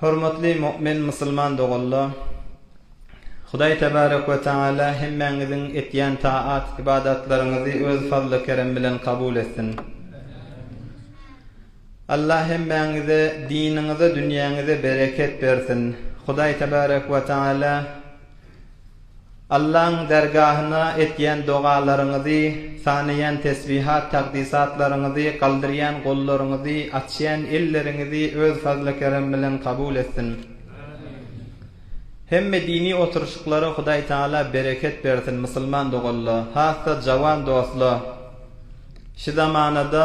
Hormatly mu'min musulman doganlar! Hudaý tebarek we teala hemmäňiziň etýän taat, ybadatlaryňyzy öz fazly-kerem bilen kabul etsin! Allah hemmäňize diniňize, dünýäňize bereket bersin! Hudaý tebarek we teala Allaň dergahyna etýän dogalaryňyzy, sanaýan tesbihat-takdysatlaryňyzy, galdyrýan gollaryňyzy, açýan elleriňizi Öz fazly-kerem bilen kabul etsin. Hemme dini oturyşyklara Hudaý Tagala bereket bersin, musulman dogalla, has-da jawan dostla, şu zamanada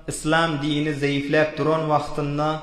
Yslam dini zeýifläp duran wagtynda,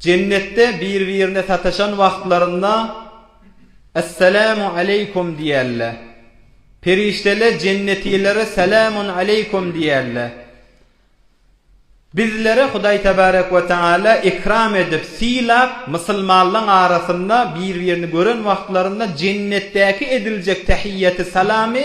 Jennetde bir-birine sataşan wagtlarynda Essalamu aleýkum diýerler. Perişdeler jennetilere Salamun aleýkum diýerler. Bizlere Hudaý tebarek we taala ikram edip, sylap, musulmanlaň arasynda bir-birini gören wagtlarynda jennetdäki ediljek tähiýýeti salamy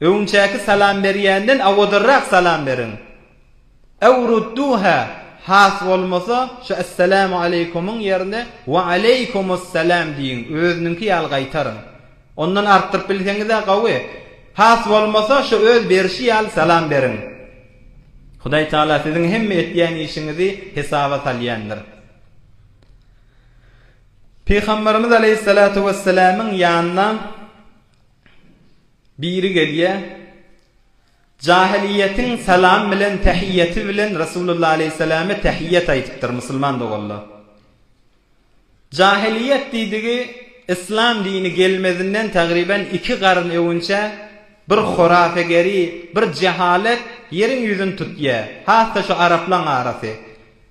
Öňçäki salam berýänden awadarrak salam beriň. Ew rudduha, has bolmasa, şu Esselamu aleýkumuň ýerine Wa aleýkumussalam diýiň, özüniňki ýaly gaýtaryň. Ondan artdyryp bilseňiz-ä gowy. Has bolmasa, şu öz berşi ýaly salam beriň. Hudaý Tagala siziň hemme etýän işiňizi hesaba salýandyr. Pygamberimiz aleýhissalatu wessalamyň ýanyna Biri gelýär, Jahylyýetiň salam bilen tähiýeti bilen Resulullah aleýhissalame tähiýet aýdypdyr, musulman doganlar. Jahylyýet diýdigi Yslam dini gelmezinden tagryban iki garyn öwünçä bir horafegeri, bir jehalet ýeriň ýüzüni tutýar, has-da şu araplaň arasy.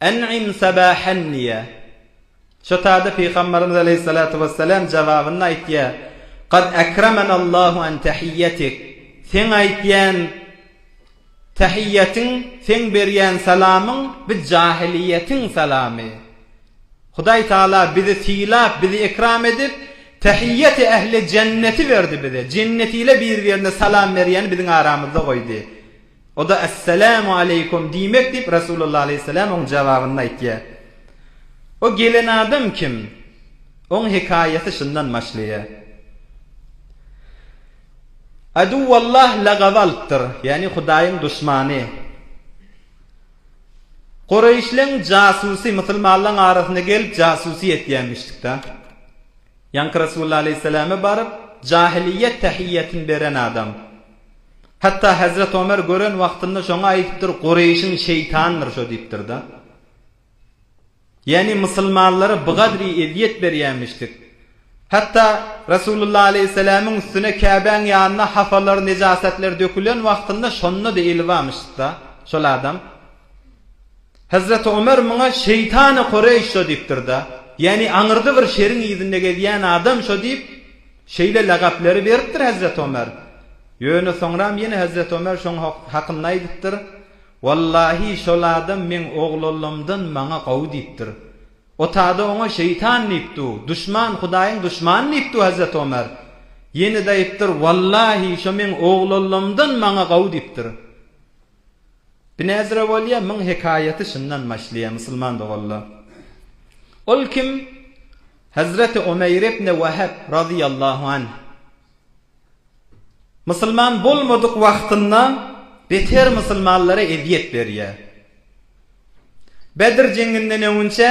En'im sabahan diýýär. Şotada Pygamberimiz aleýhissalatu wessalam jogabynda aýtýar, Kad akramanallahu an tahiyyatik, seň aýtýan tahiyyatyň, seň berýän salamyň bi jahiliýetiň salamy. Hudaý Taala bizi sylap, bizi ekram edip, tahiyyati ahli jenneti berdi bize. Jenneti ile bir-birine salam berýäni biziň aramyzda goýdy. O-da, Esselamu aleýkum diýmek diýip, Resulullah aleýhisselam oň jababyny aýtýar. O gelen adam kim? Oň hekaýaty şundan başlaýar. Aduwwallah lagaby alypdyr, ýagny Hudaýyň duşmany. Gureýşleň jasusy musulmanlaň arasyna gelip jasusy etýämişdikdä. Ýaňky Resulullah aleýhisselama baryp, jahiliýet tahiýýatyny beren adam. Hatda Hezret Omer gören wagtynda şoňa aýdypdyr, Gureýşiň şeýtandyr şo diýipdir-de. Ýagny musulmanlara bu gadri ezýet berýämişdik. Hatda Resulullah aleýhissalamyň üstüne Käbäň ýanynda hafalar, nejasatlar dökülen wagtynda şonda-da eli barmyşyk-da şol adam. Hezreti Ömer muňa şeýtany Kureýş şo diýipdir-de, ýagny aňyrda bir şeriň yzynda gezýän adam şo diýip, şeýle lagapleri beripdir Hezreti Ömer. Ýöne soňram ýene Hezreti Ömer şoň hakynda aýdypdyr, Wallahi şol adam meň oglallamdan maňa gowy diýipdir. O tada oňa şeýtan diýip du, duşman, Hudaýyň duşmany diýip du Hezreti Ömer. Ýene-de aýypdyr, Wallahi şo meň oglallamdan maňa gowy diýipdir. Binäzire bolýa myň hekaýaty şundan başlaýa musulman doganlar. Ol kim? Hazreti Omeýr ibne Wahab razyýallahu anh. Musulman bolmadyk wagtynda beter musulmanlara ezýet berýä. Bedr jeňinden öňünçä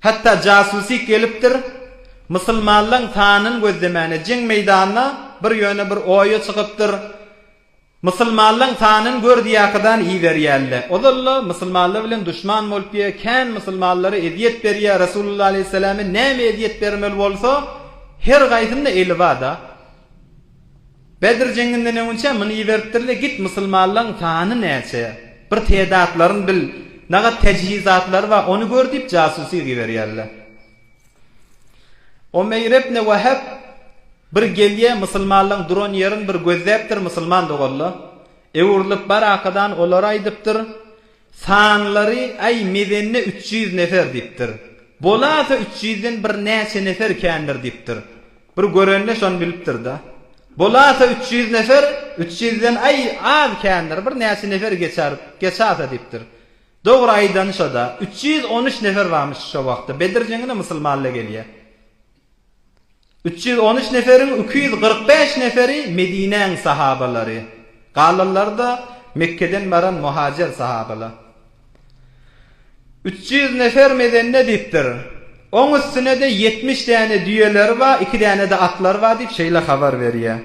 hatda jasusyk gelipdir, musulmanlaň sanyny gözlemäne jeň meýdanyna bir ýöne bir oýa çykypdyr. Musulmanlaň sanyn gör diýakydan iberýälle ozalla musulmanlar bilen duşman bolup ýe kän musulmanlara ezýet berýä Resulullah aleyhissalamy näme ezýet bermeli bolsa her gaýsynda eli bada Bedr jeňinden öňünçä muny iberipdirle git musulmanlaň sany näçe bir tedatlaryn bil nagat tejhizatlary ba ony gör diýip jasusy giberýälle. Omeýr ibn Wahab bir gelýär, musulmanlaryň duran ýerini bir gözläpdir, musulman doganlar öwrülip barakadan olara aýdypdyr, Sanlary, aý, mezende üç ýüz nefer diýipdir. Bolasa üç ýüzden bir näçe nefer kändir diýipdir. Bir görende şony bilipdir-de. Bolasa üç ýüz nefer, üç ýüzden, aý, az kändir, bir näçe nefer geçer, geçasa diýipdir. Dogry aýdanyşada üç ýüz on üç nefer barmyş şo wagtda Bedir jeňine musulmalla gelýä. Üç ýüz on üç neferiň iki ýüz kyrk bäş neferi Medinäň sahabalary, galanlary-da Mekgeden baran muhajer sahabalar. Üç ýüz nefer medende diýipdir. Oň üstünede ýetmiş däne düýeleri bar, iki däne-de atlary bar diýip şeýle habar berýä.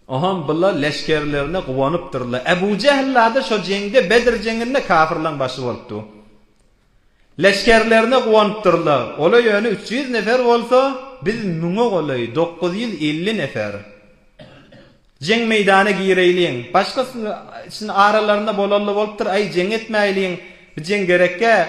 Oňham bula leşgerlerine guwanypdyrlar. Ebu Jähil-la-da şo jeňde, Bedr jeňinde kafyrlaň başy bolupdy. Leşgerlerine guwanypdyrlar. Ola ýöne üç ýüz nefer bolsa, biz müňe golaý, dokuz ýüz elli nefer. Jeň meýdana gireýliň. Başgasyny, içini aralarynda bolally bolupdyr, aý, jeň etmäýliň. Bu jeň gerekkä?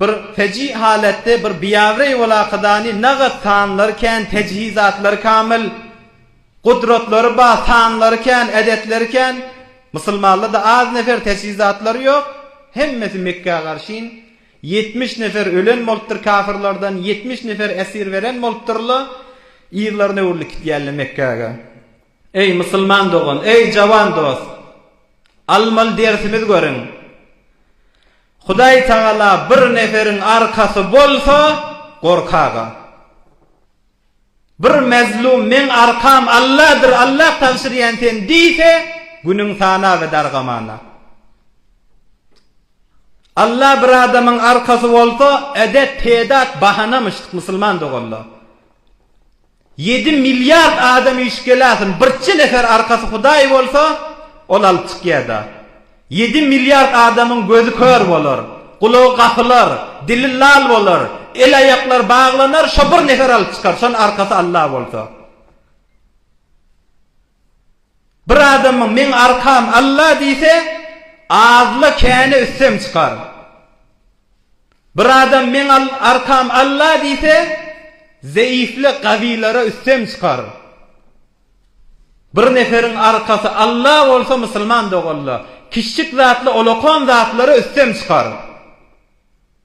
Bir feji halatda bir biawireý bolakadany nagat sanlary kän tejhizatlary kamyl gudratlary ba sanlary kän edetleri kän musulmanlarda az nefer tejhizatlary ýok hemmesi mekgä garşyn ýetmiş nefer ölen bolupdyr kafyrlardan ýetmiş nefer esir beren bolupdyrla yzlaryna öwrülip gitýärle mekgäge eý musulman dogan eý jawan dost almaly dersimiz görüň. Hudaý Tagala bir neferiň arkasy bolsa, gorkag-a. Bir mezlum meň arkam Alladyr, Allah tabşyrýan sen diýse, günüň sana we dargamana. Allah bir adamyň arkasy bolsa, edet, pedat, bahanamyş, musulman doganlar. Ýedi milliard adam üýşüp geläsin, birçe nefer arkasy hudaý bolsa, ol alyp çykýada. Ýedi milliard adamyň gözi kör bolar, gulagy gapylar, dili lal bolar, el-aýaklary baglanar, şo bir nefer alyp çykar, şon arkasy Alla bolsa. Bir adamyň Meň arkam Alla diýse, azla-käne üstem çykar. Bir adam Meň arkam Alla diýse, zeýifle gawylara üstem çykar. Bir neferiň arkasy Alla bolsa musulman doganla, kiçjik zatla olakan zatlara üstem çykar.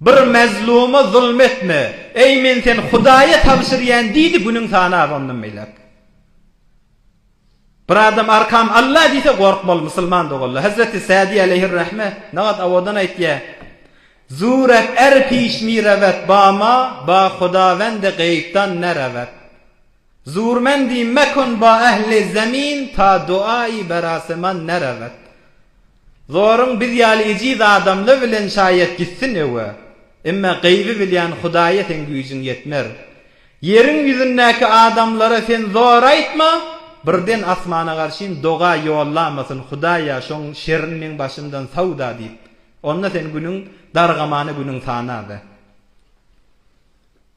Bir mazluma zulum etme, eý, men seni Hudaýa tabşyrýan diýdi, günüň sanap ondan beýläk. Bir adam Arkam Alla diýse gorkmaly, musulman doganlar. Hezreti Sadi aleýhir-rahme nagat awadan aýtýar, Zurek er piş mi rewet ba ma, ba Hudawende geýpdan ne rewet. Zurmendi mekun ba ehli zemin ta duai beraseman nerewet. Zoruň biz ýaly ejiz adamla bilen şaýat gitsin öwe. Emme gaýby bilýän Hudaýa seň güýjüň ýetmer. Ýeriň ýüzündäki adamlara sen zor aýtma, birden asmana garşyn doga ýollamasyn Hudaýa şoň şerin meň başymdan sawda diýip. Onda sen günüň dargamany günüň sanada.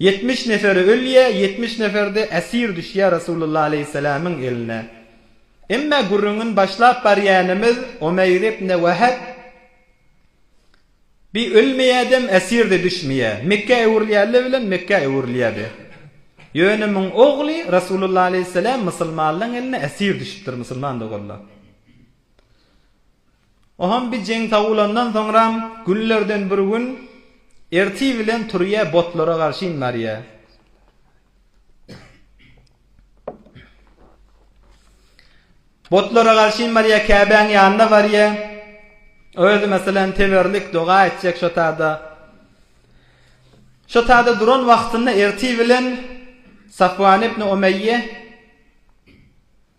Ýetmiş nefer ölýä, ýetmiş nefer-de esir düşýä Resulullah aleýhisselamyň eline. Emme gürrüňini başlap barýanymyz Omeýr ibne Weheb bi ölmeýädem esir-de düşmeýä. Mekgä öwrülýärler bilen Mekgä öwrülýärdi. Ýöne muň ogly Resulullah aleýhisselam musulmanlaň eline esir düşüpdir, musulman doganlar. Oham bi jeň sawulandan soňram günlerden bir gün erti bilen turýa botlara garşyn barýa. Botlara garşyn barýa Käbäň ýanyna barýa. Özi meselem teberlik doga etjek şo tada. Şo tada duran wagtynda erti bilen Safwan ibn Umeýýe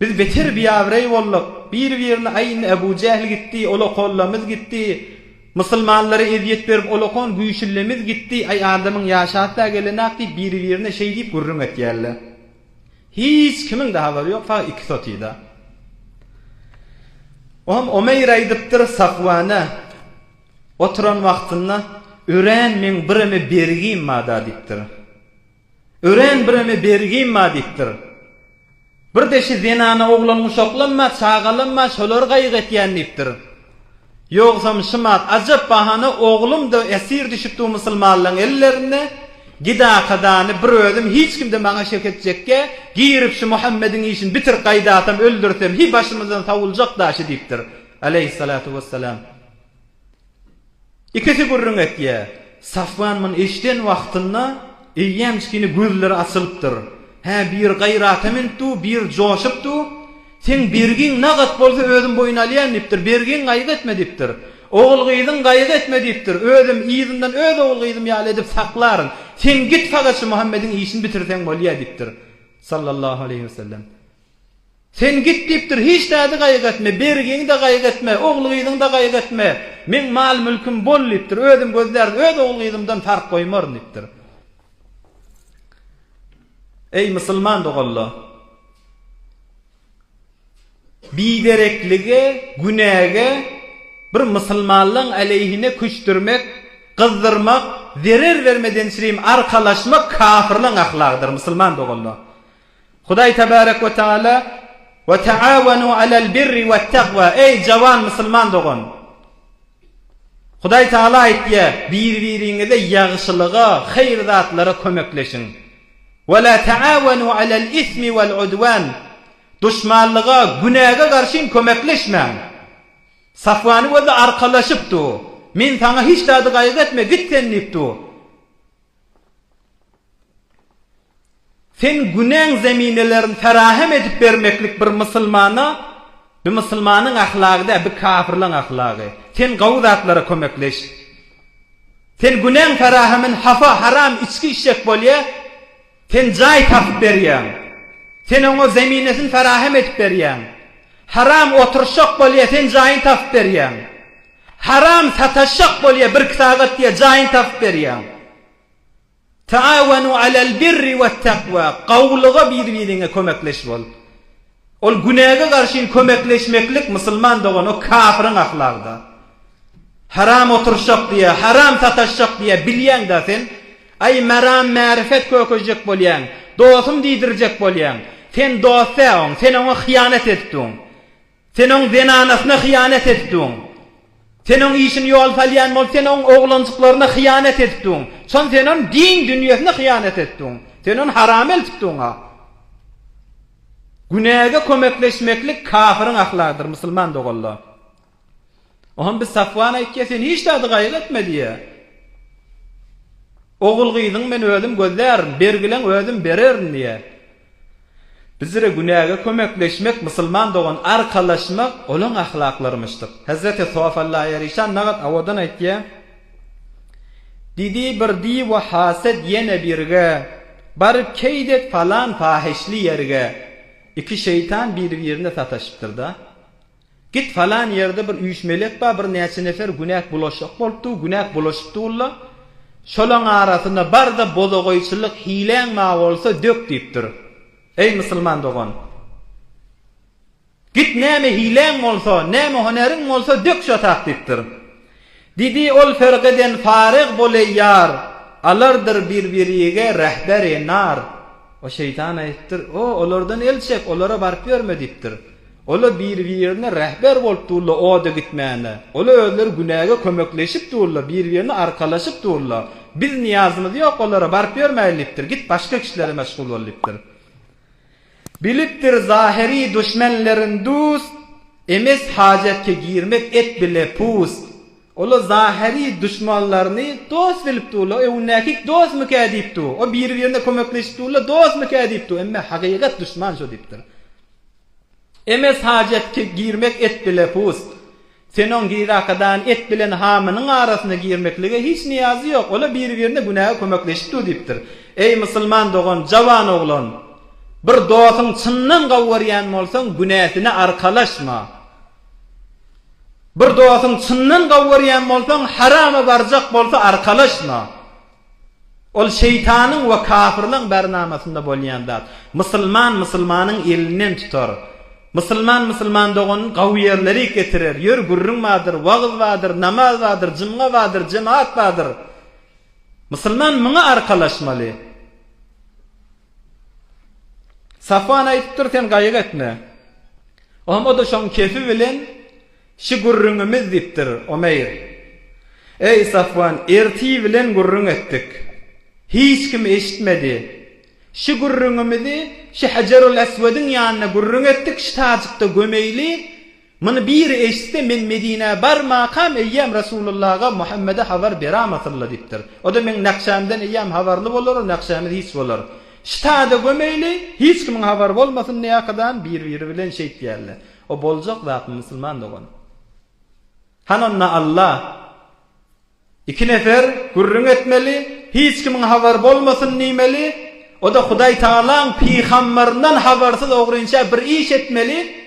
Biz beter biabraý bolduk. Bir-birini aýn Ebu Jähl gitdi, olakollamyz gitdi. Musulmanlara ezýet berip olakon güýçlimiz gitdi. Aý adamyň ýaşy asla gelenak diýip bir-birine şeý diýip gürrüň etýärler. Hiç kimiň-de habary ýok, fagt iki sotyda. O hem Omeýr aýdypdyr Safwana, oturan wagtynda, Örän meň bireme bergim barda diýipdir. Örän bireme bergim bar diýipdir. Bir deşi zenana oglan guşaklam bar, çagalam bar, şolary gaýgy etýän diýipdir. Ýogsam şymat, ajap bahana oglum-da esir düşüpdi-u musulmanlaň ellerine, gidakadany bir özüm hiç kimde maňa şek etjekge, girip şu Muhammediň işini bitirip gaýdasam, öldürsem, hi başymyzdan sawuljak daşy diýipdir. Aleýhissalatu wessalam. Ikisi gürrüň etýär. Safwan muny eşiden wagtynda eýýäm kine gözleri açylypdyr. Hä, bir gaýrata münüp du, bir joşup du. Seň bergiň nagat bolsa özüm boýun alýan diýipdir. Bergiň gaýgy etme diýipdir. Ogul-gyzyň gaýgy etme diýipdir. Özüm yzyndan öz ogul-gyzym ýaly edip saklaryn. Seň git fakat şu Muhammediň işini bitirseň bolýa diýipdir. Sallallahu aleýhi wesellem. Sen git diýipdir, hiç zady gaýgy etme, bergiňi-de gaýgy etme, ogul-gyzyňy-da gaýgy etme, meň mal-mülküm bol diýipdir, özüm gözlärin, öz ogul-gyzymdan tarp goýmaryn diýipdir. Eý, musulman doganlar! Bidereklige, günäge bir musulmanlaň aleýhine küçdürmek, gyzdyrmak, zerer bermedençirim arkalaşmak kafirlaň ahlagydyr, musulman doganlar! Hudaý Tebarek we Teala, Ve teavenu alel birri vettegva, eý jawan musulman dogan! Hudaý Teala aýtýar, Bir-biriňize ýagşylyga, haýyr zatlara kömekleşiň. Ve la teavenu alel ismi vel udwan, duşmanlyga, günäge garşy hem kömekleşmäň. Safwanyň özi arkalaşypdy, Men saňa hiç zady gaýgy etme, git sen diýipdi. Sen günäň zeminelerini ferahem edip bermeklik bir musulmana bi musulmanyň ahlagy däl bi kafirleň ahlagy. Sen gowy zatlara kömekleş. Sen günäň ferahemin hafa haram içki içjek bolýa. Sen jaý tapyp berýäň. Sen oňa zeminesini ferahem edip berýäň. Haram oturyşjak bolýa sen jaýyny tapyp berýäň. Haram sataşjak bolýa birki sagat diýe jaýyny tapyp berýäň. Ta'awanu alel birri wet takwa, gowulyga bir-biriňe kömekleş bol. Ol günäge garşyn kömekleşmeklik musulman dogan o kafryň ahlagyda. Haram oturşak diýä, haram sataşjak diýä bilýäňdä sen. Aý maram märifet kökežjek bolýaň, dosum diýdirjek bolýaň. Sen dostä oň, sen oňa hyýanat etdiň. Sen oň zenanasyna hyýanat etdiň. Sen oň işini ýol salýan bolup sen oň oglanjyklaryna hyýanat etdiň. Çon sen on din dünýesine hyýanat etdiň. Sen on haram eltipdiňa. Günäge kömekleşmeklik kafiryň ahlagydyr, musulman doganlar. Oňam biz Safwana aýtýa, sen hiç zady gaýgy etme diýýä. Ogul-gyzyňy men özüm gözlärin, bergileň özüm bererin diýýä. Bizre günäge kömekleşmek, musulman dogan arkalaşmak olaň ahlaklarymyşdyr. Hezreti Sof Allaha ýaryşan nagat awadan aýtýa. Diýdi bir diwa haset ýene birge, Baryp keýt et palan pahyşly ýerge. Iki şeýtan bir-birine sataşypdyr-da. Git falan ýerde bir üýş melek bar, bir näçe nefer günäk bulaşjak bolupdy, günäk bulaşypdy walla. Şolaň arasyna bar-da bozagaýçylyk hiläň bar bolsa dök diýipdir. Eý musulman dogan! Git näme hiläň bolsa, näme honeriň bolsa dök şo tak diýipdir. Didi ol fergeden fareg boley ýar, alardyr bir-birige rehber-e nar. O şeýtan aýypdyr, O, olardan el çek, olara baryp ýörme diýipdir. Ola bir-birine rehber bolup durla oda gitmäne. Ola özleri günäge kömekleşip durla, bir-birine arkalaşyp durla. Biz niýazymyz ýok olara baryp ýörmäýli diýipdir. Git başga kişilere meşgul bol diýipdir. Bilipdir zahyry duşmenlerin dust, Emes hajatke girmek et bile pust. Ola zahyry duşmanlaryny dost bilip durla, öwünäkik dostmukä diýip dur, o biri birine kömekleşip durla dostmukä diýip dur, emme hakykat duşman şo diýipdir. Emes hajat ki girmek et bile pust. Sen oň Girakadany et bilen hamynyň arasyna girmeklige hiç niýazy ýok, ola biri-birine günäge kömekleşip dur diýipdir. Eý musulman dogan, jawan oglan! Bir dosyň çyndan gowurýan bolsaň günäsine arkalaşma. Bir dosyň çyndan gowurýan bolsaň harama barjak bolsa arkalaşma. Ol şeýtanyň we kapyrlaň bärnamasynda bolýan zat. Musulman musulmanyň elinden tutar. Musulman musulman doganyny gawy ýerlere getirer. Ýör, gürrüň bardyr, wagyz bardyr, namaz bardyr, jumga bardyr, jemagat bardyr. Musulman muňa arkalaşmaly. Safwan aýdypdyr, sen gaýyk etme. O hem o-da şoň kefi bilen Şu gürrüňimiz, diýipdir, Omeýr. Eý, Safwan, ertir bilen gürrüň etdik. Hiç kim eşitmedi. Şu gürrüňimizi şu Hejerul-Eswediň ýanynda gürrüň etdik, şu tajykda gömeýli. Muny biri eşitse, men Medinä barmakam eýýäm Resulullaga, Muhammede habar beram asyl-la, diýipdir. O-da meň nakşamdan eýýäm habarly bolar, o nakşamyz hiç bolar. Şu taýda gömeýli, hiç kimiň habary bolmasyn, näkydam bir-biri bilen şeýtýärler. O boljak zatmy musulman dogan? Han onda Alla iki nefer gürrüň etmeli, hiç kimiň habary bolmasyn diýmeli, oda Hudaý Tagalaň pygambaryndan habarsyz ogrynça bir iş etmeli,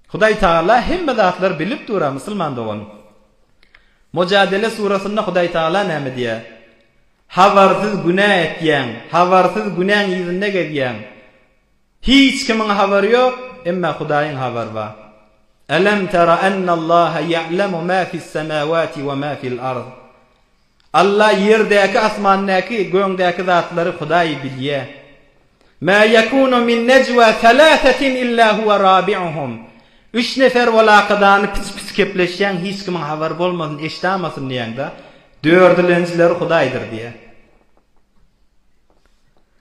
Hudaý Tagala hemme zatlary bilip dur-a musulman dogan. Mojadele surasynda Hudaý Tagala näme diýä? Habarsyz günä etýäň, habarsyz günäň yzynda gezýäň. Hiç kimiň habary ýok, emma Hudaýyň habary bar. Elem tera ennallaha ýe'lemu ma fissemawati we ma fil ard. Alla ýerdäki, asmandaky, göňdäki zatlary Hudaý bilýär. Ma ýekunu min nejwa salasatin illa huwa rabi'uhum. Üç nefer bol akydany piti-piti kepleşýän, hiç kimiň habary bolmasyn, eşdamasyn diýäňde, dördilenjileri Hudaýdyr diýýär.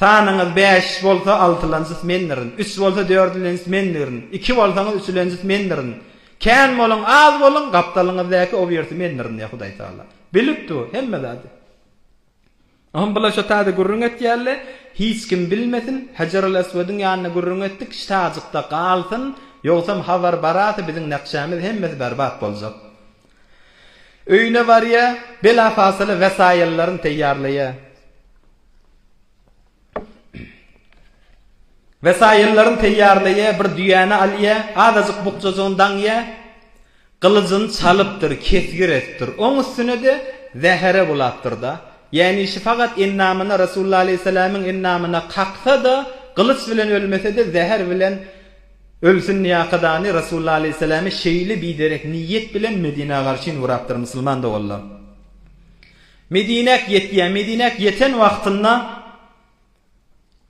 Sanyňyz bäş bolsa altylanjys mendirin, üç bolsa dördülenjis mendirin, iki bolsaňyz üçülenjis mendirin. Kän boluň, az boluň, gapdalyňyzdaky obýerti mendirin diýýär Hudaýtagala. Bilip dur, hemme zady. Oňa bular şo taýda gürrüň etýärler, hiç kim bilmesin, Hejerul-Eswediň ýanynda gürrüň etdik, şitajykda galsyn, ýogsam habar barasy biziň nakşämiz hemmesi berbat boljak. Öýüne barýar, belapasyly wesaýyllaryny teýýarlaýar. Wesaýyllaryny teýýarlaýar, bir düýäni alýar, azajyk bukjajygyny daňýar, gylyjyny çalypdyr, kesgir etipdir. Oň üstüne-de zähere bulapdyr-da. Ýänişi fakat endamyna, Resulullah alaýhyssalamyň endamyna kaksa-da, gylyç bilen ölmese-de, zäher bilen Ölsün ýakadany Resulullah aleýhissalamy şeýle biderek niýet bilen Medinä garşyn urapdyr musulman doganlar. Medinäk ýetýär, Medinäk ýeten wagtynda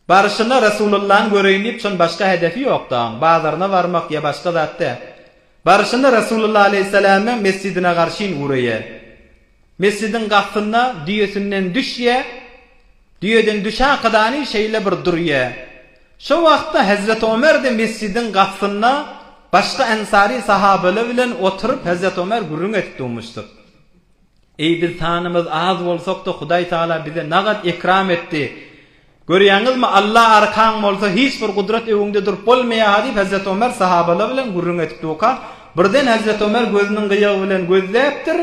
baryşyna Resulullany göreýin diýip şon başga hedefi ýok dagyň, bazaryna barmak ýa başga zat dä. Baryşyna Resulullah aleýhissalamy mesjidine garşyn uraýar. Mesjidiň gapysynda düýesinden düşýä, düýeden düşäkadany şeýle bir durýä. Şo wagtda Hezreti Ömer-de mesjidiň gapysynda başga ensary sahabeler bilen oturyp Hezreti Ömer gürrüň edip durmuşdyr. Eý biz sanymyz az bolsak-da Hudaý Taala bize nagat ekram etdi. Görýäňizmi, Alla arkaň bolsa, hiç bir gudrat öňüňde durup bolmaýar-ha, diýip, Hezreti Ömer sahabalar bilen gürrüň edip durka, birden Hezreti Ömer gözüniň gyýagy bilen gözläpdir,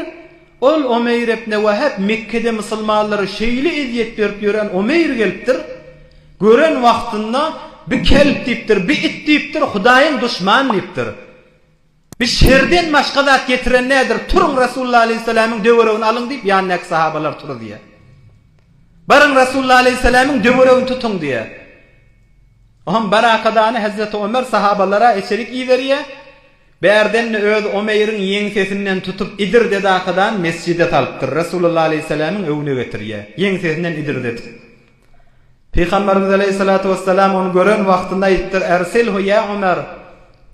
ol Omeýr ibne Wähep, Mekgede musulmanlara şeýle ezýet berip ýören Omeýr gelipdir, gören wagtynda, Bi kelp diýipdir, bi it diýipdir, Hudaýyň duşman diýipdir. Biz şerden başga zat getiren däldiris. Turuň, Resulullah aleýhyssalamyň töweregini alyň diýip, ýanyndaky sahabalar turuzýar. Baryň, Resulullah aleýhyssalamyň töweregini tutuň diýýär. Oňam barakadany Hezreti Omer sahabalara içerik iberýär. Bärden-de özi Omeýriň ýeňsesinden tutup, idirdedakadany mesjide salypdyr. Resulullah aleýhyssalamyň öňüne getirýär. Ýeňsesinden idirdedip. Pygamberimiz aleýhissalatu wessalam ony gören wagtynda aýypdyr, Ersilhu ýa Omer,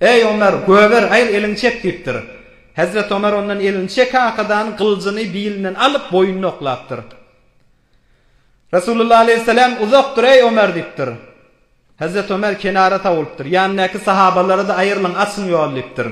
Eý Omer, göber, aýr, eliňi çek diýipdir. Hezreti Omer ondan elini çekakadan gylyjyny bilinden alyp, boýnuny oklapdyr. Resulullah aleýhissalam, Uzak dur, eý Omer diýipdir. Hezreti Omer kenara sawulypdyr. Ýanyndaky sahabalara-da aýrylyň, açyň ýoly diýipdir.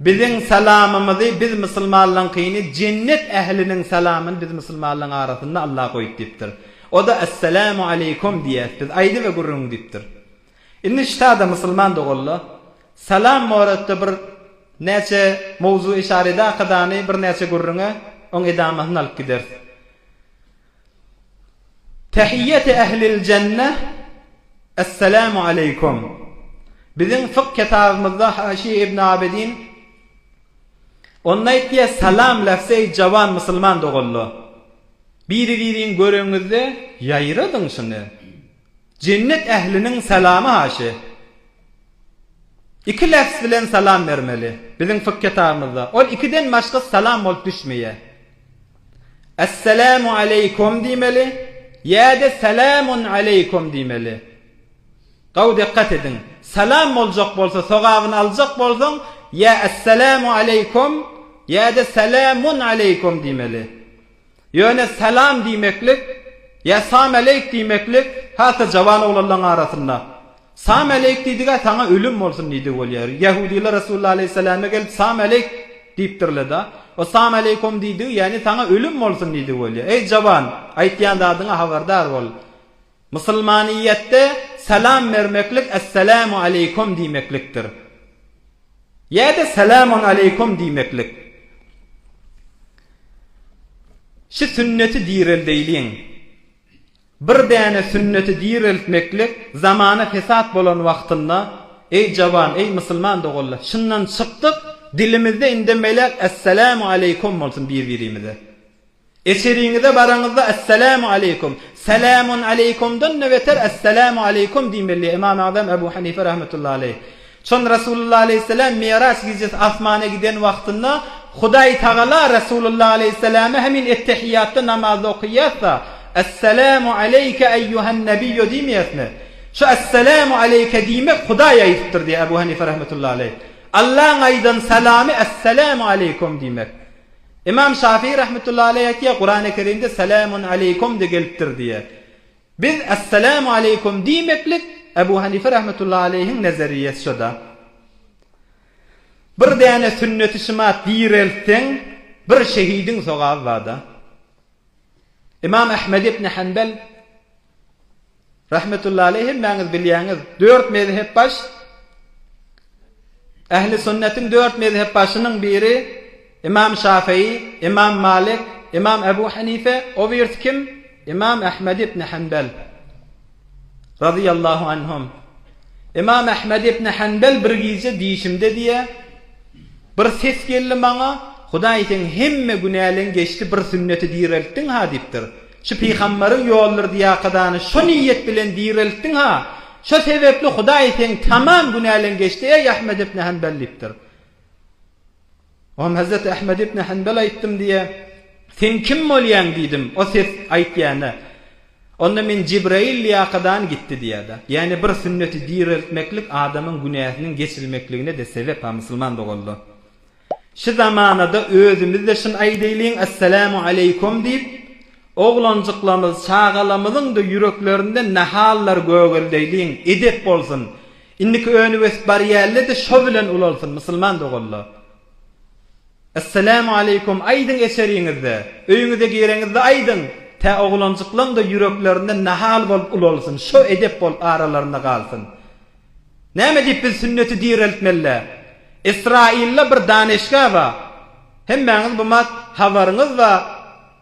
Biziň salamymyzy biz musulmanlaňkyny jennet ähliniň salamyny biz musulmanlaň arasynda Allah goýup diýipdir. Oda Esselamu aleykum diýýäs biz aýdy we gürrüň diýipdir. Indi ştada musulman doganla salam boratda bir näçe mowzui şarida akydany bir näçe gürrüňe oň edamasyny alyp gideris. Tehiýeti ehli'l jenne, Esselamu aleýkum. Biziň fykh ketabymyzda Haşiýe ibn Abidin Onda aýtýar, Salam lafzy eý jawan musulman doganlar! Biri-biriňi göreňizde ýaýradyň şuny. Jennet ähliniň salamy haşy. Iki lefz bilen salam bermeli. Biziň fik ketabymyzda ol ikiden başgasy salam bolup düşmeýär. Essalamu aleykum diýmeli ýa-da salamun aleykum diýmeli. Gawy dikkat ediň. Salam boljak bolsa sogabyny aljak bolsaň ýa essalamu aleykum ýa-da salamun aleykum diýmeli. Ýöne salam diýmeklik ýa samäleýk diýmeklik has-da jawan oglanlaryň arasynda. Samäleýk diýdiga saňa ölüm bolsun diýdigi bolýar. Ýahudylar Resulullah alaýhyssalama gelip samäleýk diýipdirleda. O samäleýkum diýdigi ýagny saňa ölüm bolsun diýdigi bolýar. Eý jawan, aýtýan zadyňa habardar bol. Musulmanyýetde salam bermeklik Essalamu aleýkum diýmeklikdir. Ýa-da Salamun aleýkum diýmeklik. Şu sünneti direldeýliň. Bir däne sünneti direltmeklik zamana fesat bolan wagtynda, eý jawan, eý musulman doganlar, şundan çykdyk, dilimizde indemeläk Essalamu aleýkum bolsun bir-birimize. Eseriňize baraňyzda Esselamu aleykum, Selamun aleykumdan-da beter Esselamu aleykum diýmeli, Ymam Azam Ebu Hanife rahmetullahi aleyh. Çün Resulullah aleyhisselam Mi'raç gijesi asmana giden wagtynda Hudaý tagala Resulullah aleyhisselama hemin ettehiýatda namazda okyýasda Esselamu aleyke eýýuhen nebiyyu diýmeýäsmi? Şu Esselamu aleyke diýmek Hudaý aýdypdyr diýýär Ebu Hanife rahmetullahi aleyh. Allaň aýdan salamy Esselamu aleykum diýmek. Ymam Şafyý rahmetullahy aleý aýtýar, Kurany Kerimde Selamun aleýkum de gelipdir diýýär. Biz Assalamu aleýkum diýmeklik Ebu Hanife rahmetullahy aleýhiň nezeriýesi şoda. Bir däne sünneti şymat direltseň, bir şehidiň sogaby barda. Ymam Ahmed ibn Hanbel rahmetullahi aleyh hemmäňiz bilýäňiz, dört mezhep baş Ähli sünnetiň dört mezhep başynyň biri Ymam Şafyý, Ymam Malik, Ymam Abu Hanife, o birisi kim? Ymam Ahmed ibn Hanbel. Razyýallahu anhum. Ymam Ahmed ibn Hanbel bir gije dişimde diýe bir ses geldi maňa Hudaý seň hemme günäleň geçdi bir sünneti direltdiň ha diýipdir. Şu pygambaryň ýoludyr diýakadany şo niýet bilen direltdiň ha şo sebepli Hudaý seň tamam günäleň geçdi eý Ahmed ibn Hanbel diýipdir. Onam Hezreti Ahmed ibn Hanbel aýtdym diýe, Sen kim bolýaň diýdim, o ses aýtýana. Onda men Jibraýyl lyýakadan gitdi diýýärdi. Ýani bir sünneti direltmeklik adamyň günäsiniň geçilmekligine-de sebep ha musulman doganlar. Şu zamanada özümizde şun aýdaýlyň Assalamu Aleýkum diýip, oglanjyklarymyz, çagalamyzyň-da ýüreklerinden nahallar gögeleýliň, edep bolsun. Indiki öni ösüp barýällede şo bilen ulalsyn musulman doganlar. Esselamu aleykum aýdyň eşeriňizde, öýüňize gireňizde aýdyň, tä oglanjyklaňda ýüreklerinde nahal bolup ulalsyn, şo edep bolup aralarynda galsyn. Näme diýip biz sünneti direltmelidä? Israilda bir daneşga bar. Hemmäňiz bu mat habaryňyz bar.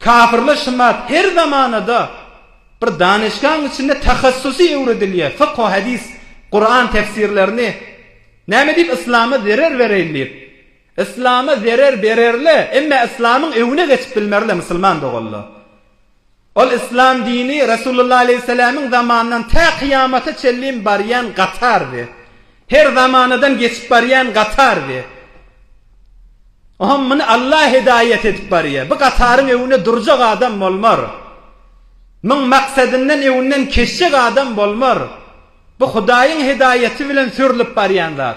Kafirler şumat her zamanada bir danyşgaň içinde tahassusy öwredilýär, fykhu hadis, Kuran tefsirlerini näme diýip yslama zerer bereýin diýip. Yslama zerer bererle, emme yslamyň öwüne geçip bilmerle musulman doganlar. Ol yslam dini Resulullah aleýhissalamiň zamanyndan tä kyýamata çenlin barýan gatardy. Her zamanadan geçip barýan gatardy. Ohm muny Allah hidaýat edip barýar. Bu gataryň öwünde durjak adam bolmar. Muň maksadyndan öwünden keçjek adam bolmar. Bu Hudaýyň hidaýaty bilen sürlip barýan zat.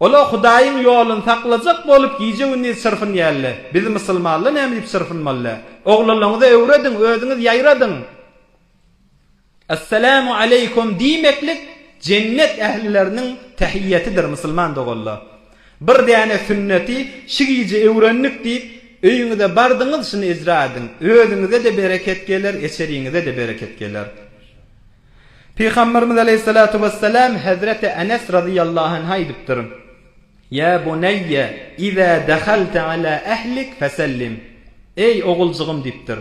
Ola Hudaýyň ýolun saklajak bolup gije gündiz çyrpynýalla. Biz musulmanla näme diýip çyrpynmalla. Oglanlaňyza öwrediň, özüňiz ýaýradyň. Assalamu aleykum diýmeklik jennet ählileriniň tähiýetidir musulman doganla. Bir däne sünneti şi gije öwrendik diýip öýüňize bardyňyz şini ijra ediň. Özüňize-de bereket geler, eçeriňize-de bereket geler. Pygamberimiz aleýhissalatu wessalam hezreti Enes razyýallahu anha aýdypdyr, Ýa buneýýe iza dahalte ala ehlik fesellim, Eý oguljygym diýipdir.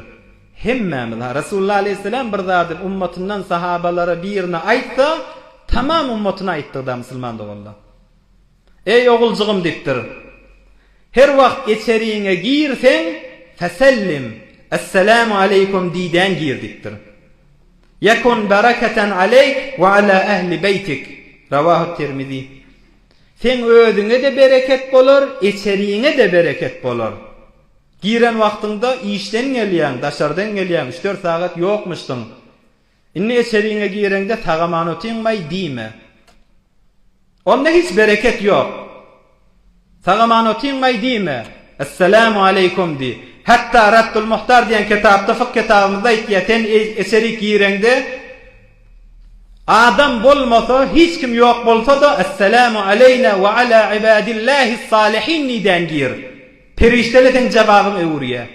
Hemmämiz, ha Resulullah aleýhissalam bir zady ummatyndan sahabalara birine aýtsa, tamam ummatyna aýtdygyda musulman doganlar. Eý, oguljygym diýipdir. Her wagt içeriňe girseň, Fesellim, Esselamu aleýkum diýdäýn gir diýipdir. Ýekun bereketen aleýk we ala ehli beýtik, Rawahu Tirmizi. Seň özüňe-de bereket bolar, içeriňe-de bereket bolar. Giren wagtyňda işden gelýäň, daşardan gelýäň, üç-dört sagat ýokmuşdyň. Indi eçeriňe gireňde sagaman otynmaý diýme. Onda hiç bereket ýok. Sagaman otynmaý diýme. Esselamu aleýkum diý. Hatda Raddul Muhtar diýen kitapda fik kitabymyzda aýtýar, sen eçerik gireňde adam bolmasa, hiç kim ýok bolsa-da Esselamu aleýna we ala ibadillahis salihin diýdän gir. Perişdeler seň jababyňy öwürýär.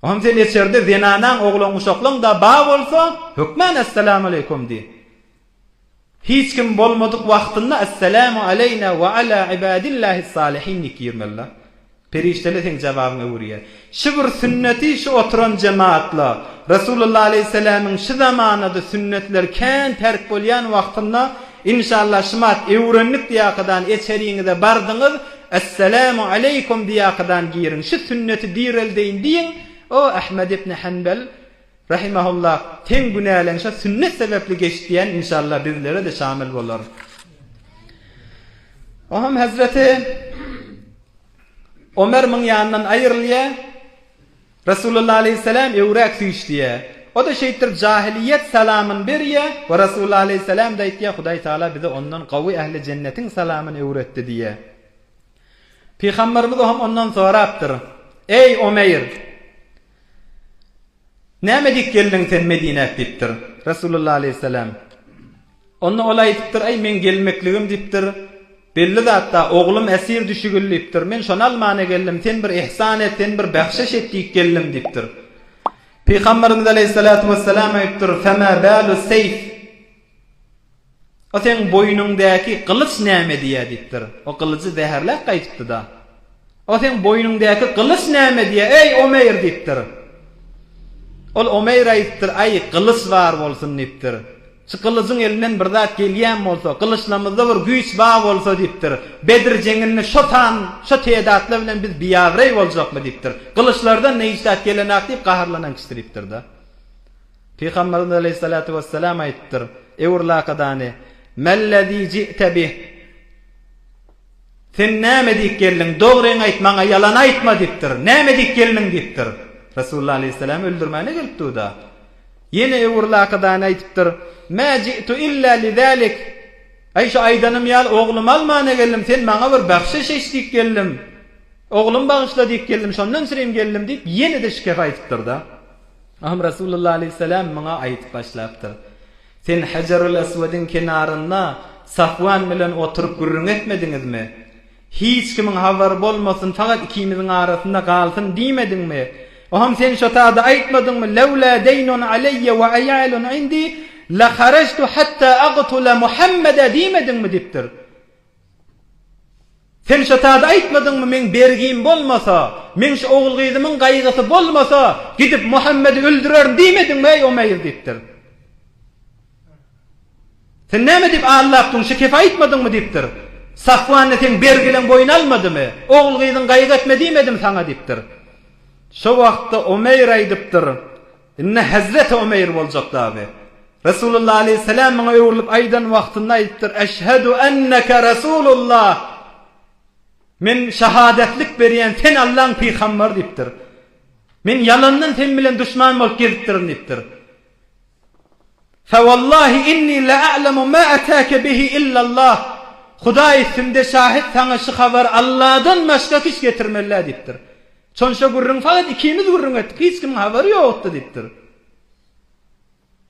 Hany sen eçerde zenanaň oglan guşaklaň da ba bolsa hökman Essalamualeýkum diý. Hiç kim bolmadyk wagtynda Essalamu aleýna we ala ibadillahis salihin diýip girmelidä. Perişdeler seň jababyňy öwürýär. Şu bir sünneti şu oturan jemaatla Resulullah aleýhissalamyň şu zamanada sünnetler kän terk bolýan wagtynda inşallah şumat öwrendik diýakadan eçeriňize bardyňyz Esselamu aleýkum diýýäkadan giriň, şu sünneti direldeýin diýiň, O Ahmed ibn Hanbal rahimehullah, seň günäleň şo sünnet sebäpli geçdi diýen inşallah bizlere-de şamil bolar. O hem hezreti Omer muň ýanyndan aýrylýar, Rasulullah aleýhissalam öwräk süýşdýä. O-da şeýtdir jahiliýet salamyn berýä we Rasulullah aleýhissalam-da aýtýa Hudaý Taala bize ondan gawy ähli jennetiň salamyn öwretdi diýýä. Pygamberimiz ohm ondan sorapdyr, Eý, Omeýr! Näme diýip geldiň sen Medinäk diýipdir. Rasulullah aleýhissalam. Onda ol aýdypdyr, Äý, meň gelmekligim diýipdir, belli zatda, oglum esir düşügil diýipdir. Men şony almana geldim, sen bir yhsan et, sen bir bähşiş et diýip geldim diýipdir. Pygamberimiz aleýhissalatu wessalam aýdypdyr, Femâ bâlu seyf? O seň boýnuňdäki gylyç näme edýär diýipdir. O gylyjy zäherläp gaýdypdy-da. O seň boýnuňdäki gylyç näme edýär, eý, Omeýr diýipdir. Ol Omeýr aýdypdyr, Äý, gylyç bar bolsun diýipdir. Şu gylyjyň elinden bir zat gelýän bolsa, gylyçlamyzda bir güýç bar bolsa, diýipdir, Bedr jeňinde şo san, şo tedatlar bilen biz biagyreý boljakmy? diýipdir. Gylyçlardan ne hiç zat gelenok diýip gaharlanan kişi diýipdir-de. Pygamberimiz aleýhissalatu wessalam aýdypdyr, Ew urlakadany, Mel-lezî ji'te bih? Sen näme diýip geldiň? Dogryňy aýt maňa, ýalan aýtma diýipdir. Näme diýip geldiň? diýipdir. Resulullah aleýhissalam öldürmäne gelip dur-da. Ýene öwür lakydany aýdypdyr. Mä ji'tu illa li zalik. Aý, şu aýdanym ýaly oglumy almana geldim. Sen maňa bir bagşyş eç diýip geldim. Oglumy bagyşla diýip geldim. Şondan sürem geldim diýip, ýene-de şikes aýdypdyr-da. Ahym Resulullah aleýhissalam muňa aýdyp başlapdyr. Sen Hejerül Eswediň kenarynda Safwan bilen oturyp gürrüň etmediňizmi? Hiç kimiň habary bolmasyn, fakat ikimiziň arasynda galsyn diýmediňmi? Oham sen şo sada aýtmadyňmy, Lewlâ deýnun aleýe we aýalun indi, leharajtu hatta agtula Muhammede diýmediňmi? diýipdir. Sen şo zady aýtmadyňmy, meň bergim bolmasa, meň şu ogul-gyzymyň gaýgysy bolmasa, gidip Muhammedi öldürerin diýmediňmi, eý, Omeýr? diýipdir. Sen näme diýip aldapdyň, şekefe aýtmadyňmy? diýipdir. Safwan-da seň bergileň boýun almadymy? Ogul-gyzyň gaýgy etme diýmedimi saňa? diýipdir. Şo wagtda Omeýr aýdypdyr, Indi hezreti Omeýr boljak dagy. Resulullah aleýhissalam muňa öwrülip aýdan wagtynda aýdypdyr, Eşhedu enneke Resulullah, Men şahadatlyk berýän, sen Allaň pygambary diýipdir. Men ýalandan sen bilen duşman bolup gezipdirin diýipdir. Fewallahi inni la'alemu ma atake bihi illallah. Hudaý üstümde şahit saňa şu habary Allahdan başga hiç getirmänlä diýipdir. Sonşa gürrüň fakat ikimiz gürrüň etdik, hiç kimiň habary ýokdy diýipdir.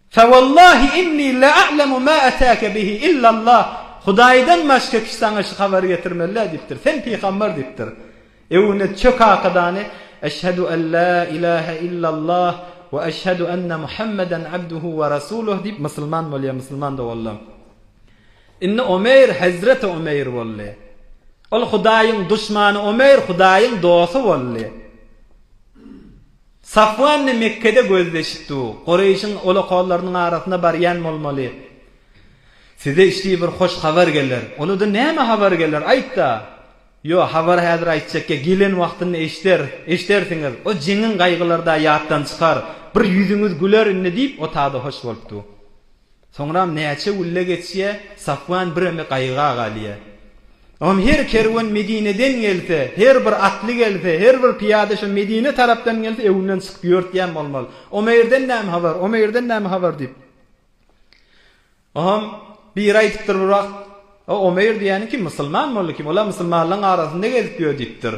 Fe wallahi inni la a'lemu ma atake bihi illa Allah, Hudaýdan başga kişi saňa şu habary getirmezler diýipdir, sen pygamber diýipdir. Ebu Ned çök hakydany, Eşhedu en la ilahe illa Allah we eşhedu enne Muhammeden abduhu we rasuluh diýip musulman bolýar, musulman doguldy. Indi Omeýr hezreti Omeýr boldy. Ol Hudaýyň duşmany Omeýr Hudaýyň dosty boldy. Safwan-da Mekgede gözleşipdi. Gureýşiň olakollarynyň arasyna barýan bolmaly. Size işdii bir hoş habar geler. Uluda näme habar geler, aýt-da! Ýo, habary häzir aýtjak ýa, gelen wagtynda eşderis, eşdersiňiz. O jeňiň gaýgylary-da ýatdan çykar. Bir ýüzüňiz güler indi, diýip, otagda hoş bolupdy. Soňram näçe gülle geçýä, Safwan biremi gaýyga galýa. Oňam her kerwen Medineden gelse, her bir atly gelse, her bir pyýada şo Medine tarapdan gelse, öwünden çykyp ýörtýän bolmaly. Omeýrden näme habar, Omeýrden näme habar diýip. Oňam biri aýdypdyr bir wagt, O Omeýr diýýäniň kim, musulman boldy kim, ol-a musulmanlaryň arasynda gezip ýör diýipdir.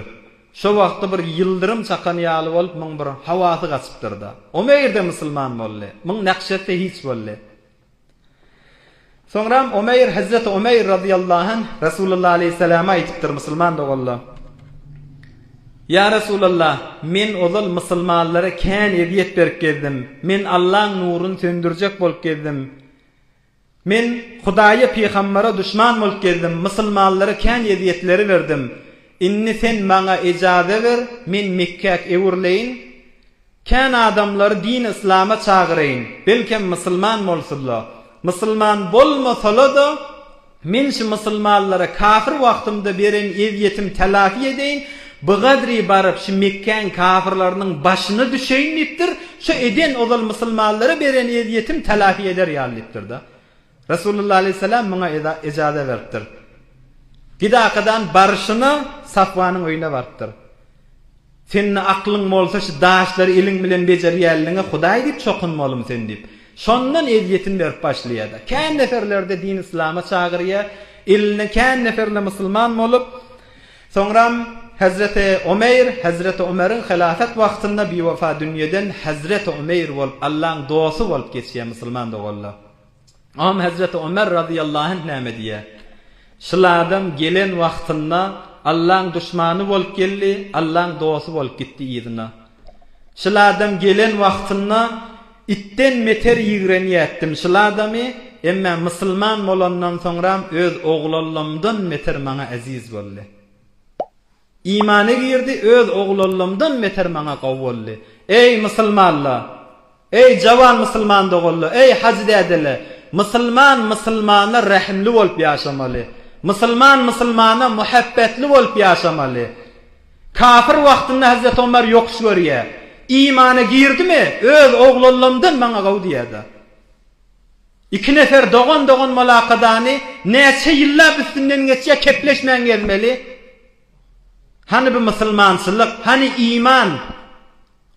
Şo wagtda bir ýyldyrym çakan ýaly bolup, muň bir hawasy gaçypdyr-da, o meýirde musulman boldy. Muň nähşeti hiç boldy. Soňram Omeýr, Hezreti Omeýr razyýallahu anh, Resulalla aleýhissalama aýdypdyr, Musulman doganlar! Ýa Resulalla, men ozal musulmanlara kän ezýet berip gezdim. Men Allaň nuruny söndürjek bolup gezdim. Men Hudaýa pygambara duşman bolup geldim, musulmanlara kän ezýetleri berdim. Indi sen maňa ejaze ber, men Mekgäk öwrüleýin. Kän adamlary dini yslama çagyraýyn, belkem musulman bolsunla. Musulman bolmasala-da, men şu musulmanlara kafir wagtymda beren ezýetim tälafi edeýin, Bigadri baryp, şu Mekgäň kafyrlarynyň başyna düşeýin diýipdir, şu eden ozal musulmanlara beren ezýetim telafi eder ýaly diýipdir-de. Resulullah aleýhissalam muňa ejaza beripdir. Gidakadan baryşyna Safwanyň öýüne barypdyr. Sende aklyň bolsa şu daşlary eliň bilen bejerýänligiňe Hudaý diýip çokunmalymy sen diýip. Şondan ezýetin berip başlaýar-da. Kän neferleri-de din islama çagyrýar. Elinden kän neferle musulman bolup. Soňram Hezreti Omeýr, Hezreti Omeriň hylafat wagtynda biwefa dünýeden Hezreti Omeýr bolup, Allaň dosty bolup geçýär, musulman doganlar. Oňam Hezreti Omer razyýallahu anh näme diýýär? Şul adam gelen wagtynda Allaň duşmany bolup geldi, Allaň dosty bolup gitdi yzyna. Şul adam gelen wagtynda itden meter ýigrenýätdim şul adamy, emmä musulman bolandan soňram öz oglallamdan meter maňa eziz boldy. Imana girdi öz oglallamdan meter maňa gowy boldy. Eý musulmanla! Eý, jawan musulman doganlar, eý, hajydädeler! Musulman musulmana rähimli bolup ýaşamaly. Musulman musulmana muhabbetli bolup ýaşamaly. Kafir wagtynda Hazreti Omar ýokuş görýär. Imana girdimi, öz oglanlarymdan maňa gowy diýýär-de. Iki nefer dogan-dogan molakadany näçe ýyllap üstünden geçýär, kepleşmän gezmeli. Hany bu musulmançylyk, hany iman?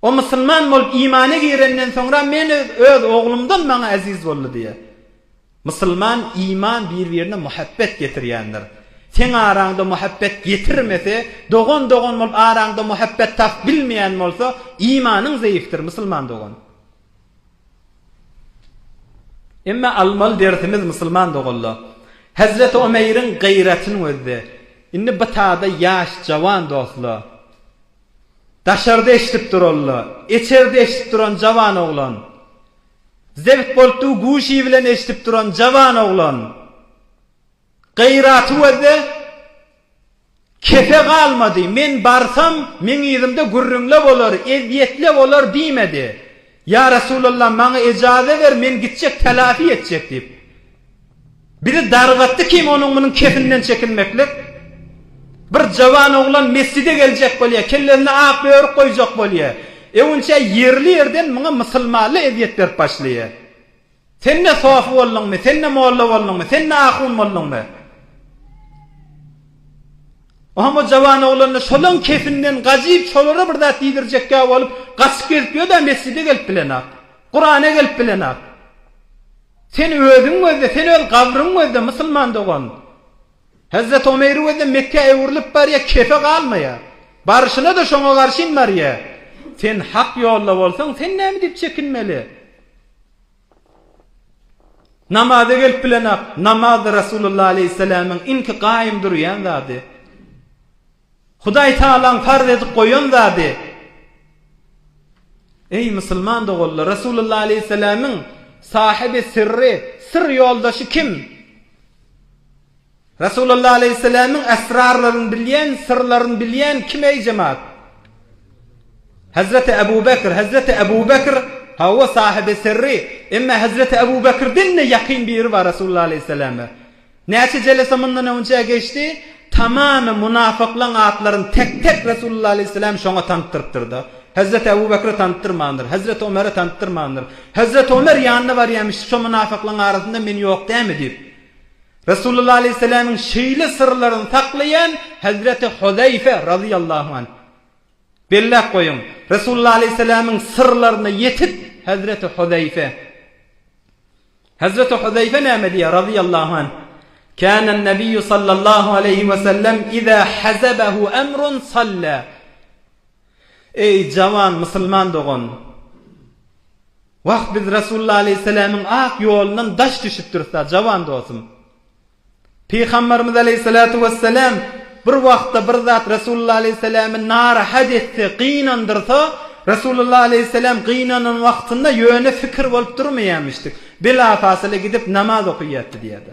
O musulman bolup imana girenden soňra men öz oglumdan maňa eziz boldy diýýär. Musulman iman bir-birine muhabbet getirýändir. Seň araňda muhabbet getirmese, dogan dogan bolup araňda muhabbet tapyp bilmeýän bolsa, imanyň zeýifdir musulman dogan. Emma almaly dersimiz musulman doganlar, Hezreti Omeýriň gaýratynyň özde. Indi bitada ýaş jawan dostlar. Daşarda eşidip duralda, içerde eşidip duran jawan oglan. Zebt bolupdygy guşy bilen eşidip duran jawan oglan. Gyraty gözde kefe galmady, men barsam, meň yzymda gürrüňle bolar, ezýetle bolar diýmedi. Ýa Resulallah, maňa ejaze ber, men gitjek, telafi etjek, diýip, biri dargatdy, kim onuň munuň kefinden çekinmeklik? Bir jawan oglan mesjide geljek bolýar, kellesine ak börük goýjak bolýar. Öwünçä ýerli-ýerden muňa mysylmally ezýet berip başlaýar. Sen-de sofy bolduňmy, sen-de molla bolduňmy, sen-de ahun bolduňmy? Oňa o jawan oglanlar şolaň kesinden gajyp, şolara bir zat diýdirjekkä bolup, gaçyp gezip ýör-dä, mesjide gelip bilenok. Kurana gelip bilenok. Sen özüň gözle, sen öz gabryň gözle, musulman dogan. Hezreti Omeýri gözle, Mekgä öwrülip barýar, kefe galmaýar. Baryşyna-da şoňa garşyn barýar. Sen hak ýolda bolsaň, sen näme diýip çekinmeli? Namaza gelip bilenak, namaz Rasulullah aleýhissalamyň inki gaýym durýan zady. Hudaý Tagalaň farz edip goýan zady. Eý musulman doganlar, Rasulullah aleýhissalamyň sahyby sirri, syr ýoldaşy kim? Resulalla aleýhisselämiň esrarlaryny bilýän, syrlaryny bilýän kim eý jemaat? Hezreti Ebu Bekr, Hezreti Ebu Bekr, hawa sahibi sirri, emma Hezreti Ebu Bekrden-de ýakyn biri bar Resulalla aleýhisselama. Näçe jelese mundan öňçä geçdi, tamamy munafyklaň atlaryny tek-tek Resulalla aleýhisselam şoňa tanytdyrypdyr-da. Hezreti Ebu Bekre tanytdyrmandyr, Hezreti Omere tanytdyrmandyr. Hezreti Omer ýanyna barýarmyş, şo munafyklaň arasynda men ýok dämi diýip. Resulullah aleýhissalamiň şeýle syrlaryny saklaýan Hazreti Huzaýfe razyýallahu anh. Belläp goýuň, Resulullah aleýhissalamiň syrlaryna ýetip Hazreti Huzaýfe. Hazreti Huzaýfe näme diýýär razyýallahu anh? Kana Nabiýu sallallahu aleýhi we sellem iza hazabahu amrun salla. Eý, jawan musulman dogan! Wah, biz Resulullah aleýhissalamiň ak ýolundan daş düşüpdiris-dä, jawan dostum! Pygambarymyz aleýhissalatu wessalam bir wagtda bir zat Resulullah aleýhissalamy narahat etse, gynandyrsa, Resulullah aleýhissalam gynanan wagtynda ýöne fikir bolup durmaýarmyşdy, bilafasyla gidip namaz okaýardy diýýärdi.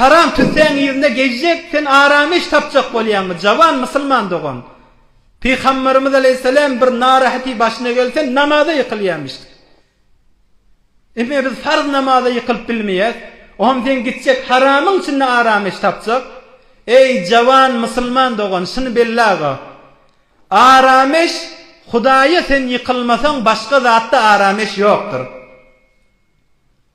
Haram tüssäň yzynda gezjek sen aram iş tapjak bolýaňmy jawan musulman dogan Pygambarymyz aleýhissalam bir narahati başyna gelse namaza ýykylýamişdi ine biz farz namaza ýykylyp bilmeýäs oňam sen gitjek haramyň içinde aram iş tapjak eý jawan musulman dogan şuny belle aga aram iş hudaýa sen ýykylmasaň başga zatda aram iş ýokdur.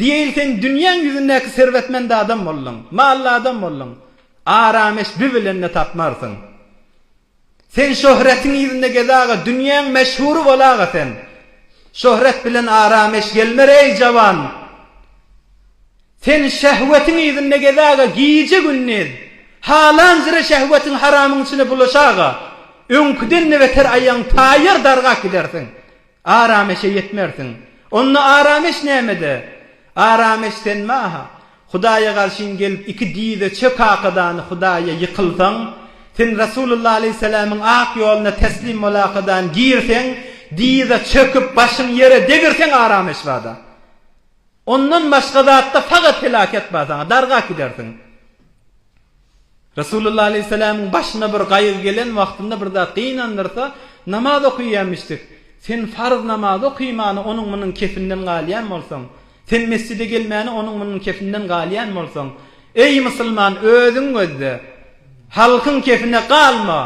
Diýeýin sen dünýäň ýüzündäki serwetmend adam bolduň, mally adam bolduň, arameş bi bilen-de tapmarsyň. Sen şöhretiň yzynda gez-aga, dünýäň meşhury bol-aga sen. Şöhret bilen arameş gelmer, eý, jawan! Sen şehwetiň yzynda gez-aga, gije-gündiz. Halanjyra şehwetiň haramyň içine bulaş-aga, öňküden-de beter aýagyň taýýar dargap gidersiň. Arameşe ýetmersiň. Onda arameş nämede? Arameş senmi-aha? Hudaýa garşyň gelip iki dize çökakadany Hudaýa ýykylsaň, sen Rasulullah alaýhyssalamyň ak ýoluna teslim bolakadany girseň, dize çöküp başyň ýere degirseň arameş bada. Ondan başga zatda fagat helaket bar saňa, dargap gidersiň. Resulullah aleýhissalamyň başyna bir gaýgy gelen wagtynda bir zat gynandyrsa, namaz okaýýarmyşdyk. Sen farz namazy okymany onuň-munuň kefinden galýan bolsaň, sen mesjide gelmäni onuň-munuň kefinden galýan bolsaň, eý, musulman, özüň gözle, halkyň kefine galma,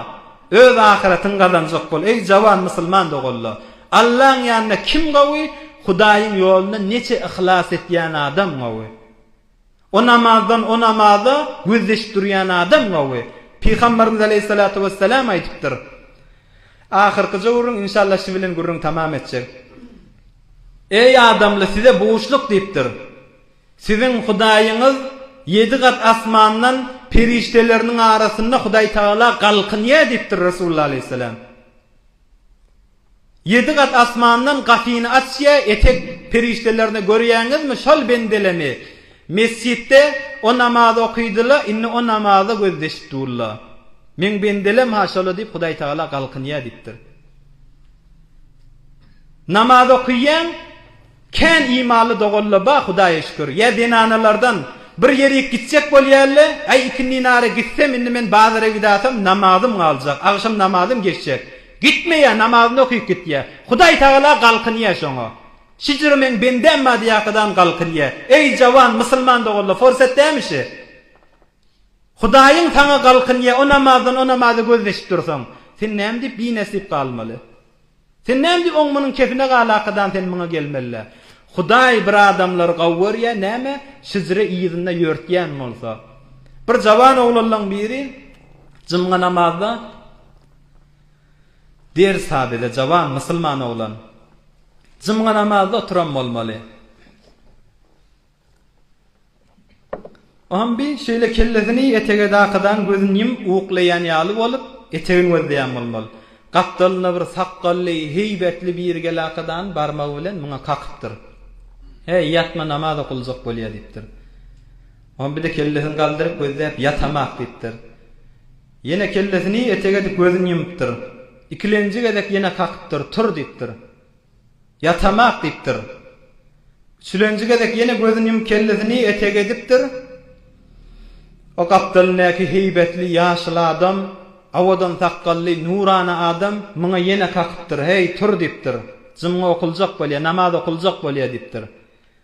öz ahyratyňy gazanjak bol, eý, jawan musulman doganla, Allaň ýanynda kim gowy, Hudaýyň ýolunda neçe yhlas etýän adam gowy. O namazdan o namaza gözleşip durýan adam gowy. Pygamberimiz aleýhissalatu wessalam aýdypdyr, Ahyrkyja gürrüň inşallah şi bilen gürrüň tamam etjek. Eý adamly size buşluk diýipdir. Siziň Hudaýyňyz ýedi gat asmandan perişdeleriniň arasynda Hudaý Tagala galkynýar diýipdir Resulullah aleýhissalam. Ýedi gat asmandan gapyny açýa etek perişdelerini görýäňizmi şol bendelemi mesjitde o namaz okydyla indi o namaza gözleşip durla meň bendelem ha şola diýip hudaý tagala galkynýa diýipdir namaz okýaň Kän imanly doganlar bar Hudaýa şükür. Ýa zenanalardan, Bir ýerik gitjek bolýaly, Äý ikindinara gitsem indi men bazara gidasam namazym galjak, agşam namazym geçjek. Gitmeýär namazyny okyp gitýär. Hudaý Tagala galkynýar şoňa. Şijiri meň bendäm bar diýäkadan galkynýar. Äý jawan musulman doganlar forsat dämi şi? Hudaýyň saňa galkynýar o namazdan o namaza gözleşip dursaň. Sen näme diýip binäsip galmaly. Sen näme diýip oň munyň kefine gal akadan sen muňa gelmelä. Hudaý bir adamlary gawy görýä näme şijre yzynda ýörtýän bolsa. Bir jawan oglanlaň biri jymga namazda ders ha bize jawan musulman oglan. Jymga namazda oturan bolmaly. Bambi şeýle kellesini etege dakydan gözüni ýumup uklaýan ýaly bolup, etegini gözleýän bolmaly. Gapdalynda bir sakgally, heýbetli biri gelakadan barmagy bilen muňa kakypdyr. Häý, ýatma, namaz okaljak bolýa, diýipdir. Bambi-de kellesini galdyryp gözläp, Ýatamak, diýipdir. Ýene kellesini etege edip gözüni ýumupdyr. Ikilenji gezek ýene kakypdyr, Tur, diýipdir. Ýatamak, diýipdir. Üçülenji gezek ýene gözüni ýumup kellesini etege edipdir. O gapdalyndaky heýbetli ýaşyl adam, owadan sakgally, nurana adam muňa ýene kakypdyr, Heý, tur, diýipdir. Jumga okuljak bolýar, namaz okuljak bolýar, diýipdir.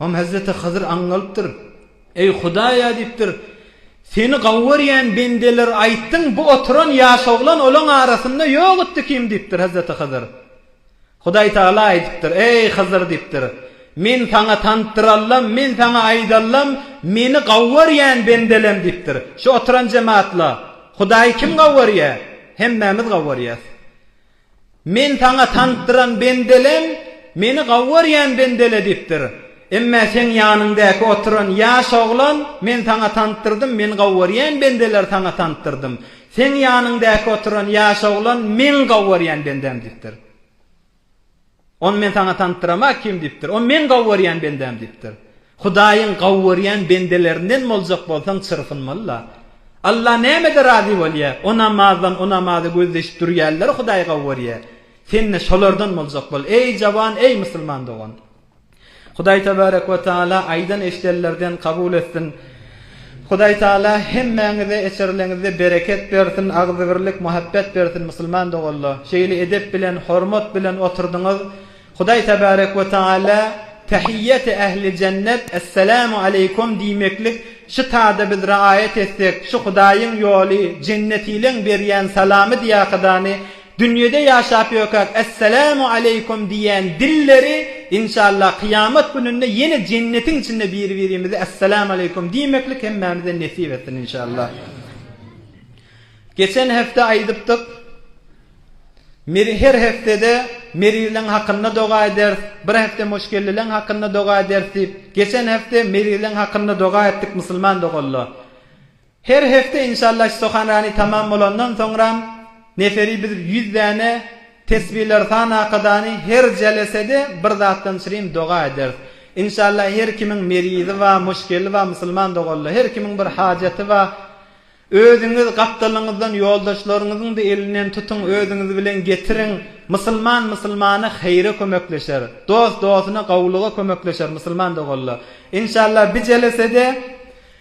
Oňa hezreti Hydyr aňňalypdyr. Eý, Hudaý-a! diýipdir. Seni gawurýän bendeler aýtsyn, bu oturan ýaş oglan olaň arasynda ýok itdi kim? diýipdir hezreti Hydyr. Hudaý tagala aýdypdyr, Eý, Hydyr! diýipdir. Men saňa tantdyralam, men saňa aýdalam, meni gawurýän bendelem diýipdir. Şu oturan jemat-la, Hudaýy kim gawurýar? Hemmämiz gawurýas. Men saňa tanpdyran bendelem Meni gawy görýän bendele diýipdir. Emma seň ýanyňdaky oturan ýaş oglan Men saňa tanpdyrdym, Meni gawy görýän bendeler saňa tanpdyrdym. Seň ýanyňdaky oturan ýaş oglan Meň gawy görýän bendäm diýipdir. Ony Men saňa tantyramak kim? diýipdir. O, Men gawy görýän bendäm diýipdir. Hudaýyň gawy görýän bendelerinden boljak bolsaň çyrpynmaly-la. Allah nämede razy bolýar? O namazdan, o namaza gözleýşip durýanlary Hudaý gawy görýär. Sen-de şolardan boljak bol. Eý, jawan, eý, musulman dogan! Hudaý tebarek we taala aýdan eşidenlerden kabul etsin. Hudaý taala hemmäňize eçerileňizde bereket bersin, agzybirlik, muhabbet bersin musulman doganla. Şeýle edep bilen, hormat bilen oturdyňyz. Hudaý tebarek we taala Tehiýýeti ähli jennet, Esselamu aleýkum diýmeklik şu tada biz raýat etsek, şu Hudaýyň ýoly, jennetileň berýän salamy diýakydany Dünýede ýaşap ýökäk Essalamu aleýkum diýýän dilleri inşallah kyýamat gününde ýene jennetiň içinde biri-birimize Essalamu aleýkum diýmeklik hemmämize nesip etsin inşallah. Geçen hepde aýdypdyk Meri her hepdede Merileň hakynda doga ederis, bir hepde Moşkellileň hakynda doga ederis diýip, geçen hepde Merileň hakynda doga etdik musulman doganlar. Her hepde inşallah stohanrani tamam bolandan soňram neferi biz ýüz däne tesbiler san akadany her jelesede bir zatdan çyrym doga ederis inşallah her kimiň merizi ba muşkeli ba musulman doganlar her kimiň bir hajaty ba özüňiz gapdalyňyzdan ýoldaşlaryňyzyňda elinden tutuň özüňiz bilen getiriň musulman musulmana heýre kömekleşer dost dostuna gowulyga kömekleşer musulman doganlar inşallah bi jelesede